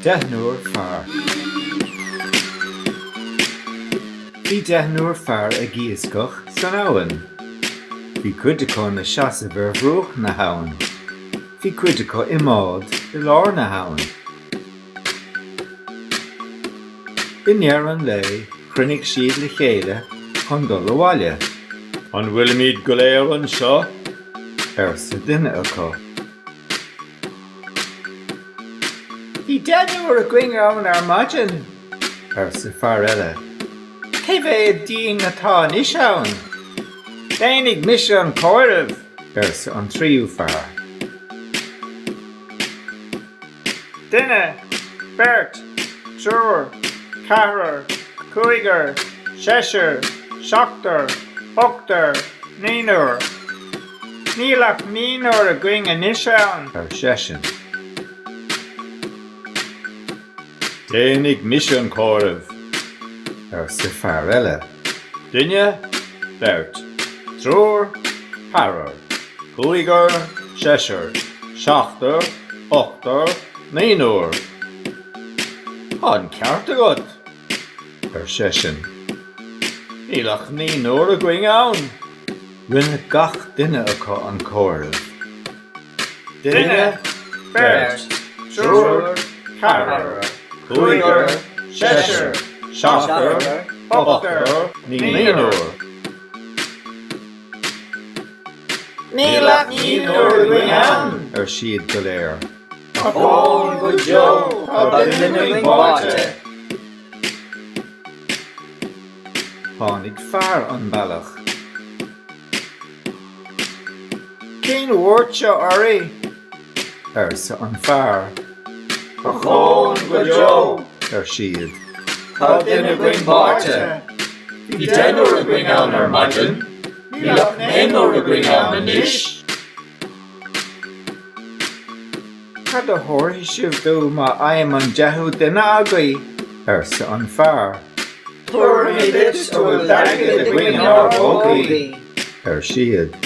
Deichniúr fear. Bhí deichniúr fear ag iascach san abhainn. Bhí cuid acu ina seasamh ar bhruach na habhann. Bhí cuid acu i mbád i lár na habhann. I ndeireadh an lae chruinnigh siad le chéile chun dul abhaile. An bhfuilimid go léir anseo? arsa duine acu. Bhí deichniúr againn ann ar maidin. arsa fear eile. Cé mhéad dínn atá anois ann? Déanfaidh mise an comhaireamh, arsa an tríú fear. Duine, beirt, triúr, ceathrar, cúigear, seisear, seachtar, ochtar, naonúr. Níl ach naonúr againn anois ann, ar seisean. Déanfaidh mise an comhaireamh, arsa fear eile. Duine, beirt, triúr, ceathrar, cúigear, seisear, seachtar, ochtar, naonúr. Tá an ceart agat, ar seisean. Níl ach naonúr againn ann. Rinne gach duine acu an comhaireamh. Duine, beirt, triúr, ceathrar, cúigear, seisear, seachtar, ochtar, naonúr. Níl ach naonúr againn ann! ar siad go léir. Ochón go deo, tá duine againn báite. Tháinig fear an bealach. Cén bhuairt seo oraibh? arsa an fear. Ochón go deo! ar siad. Tá duine againn báite. Bhí deichniúr againn ann ar maidin, níl ach naonúr againn ann anois. Cad a thabharfaidh sibh dom má fhaighim an deichiú duine agaibh? arsa an fear. Tabharfaimid duit a bhfuil d'airgead againn inár bpócaí, ar siad.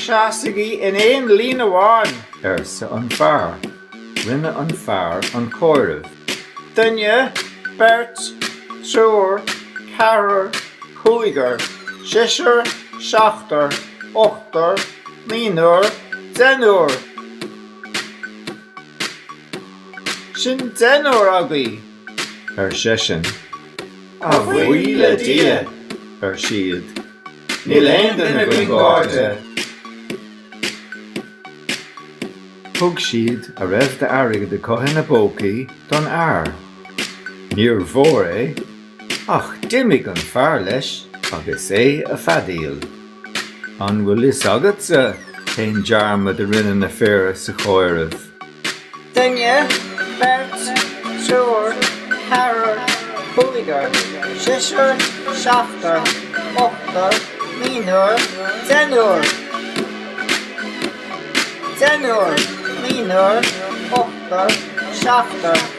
Seasaigí in aon líne amháin, arsa an fear. Rinne an fear an comhaireamh. Duine, beirt, triúr, ceathrar, cúigear, seisear, seachtar, ochtar, naonúr, deichniúr. Sin deichniúr agaibh! ar seisean. A bhuí le Dia! ar siad. Níl aon duine faoin gcairde. Thug siad a raibh d'airgead acu ina bpócaí don fhear. Níor mhór é, ach d'imigh an fear leis agus é ag feadaíl. An bhfuil fhios agatsa cén dearmad a rinne na fir sa chomhaireamh? Duine, beirt, triúr, ceathrar, cúigear, seisear, seachtar, ochtar, naonúr, deichniúr. Deichniúr, naonúr, ochtar, seachtar.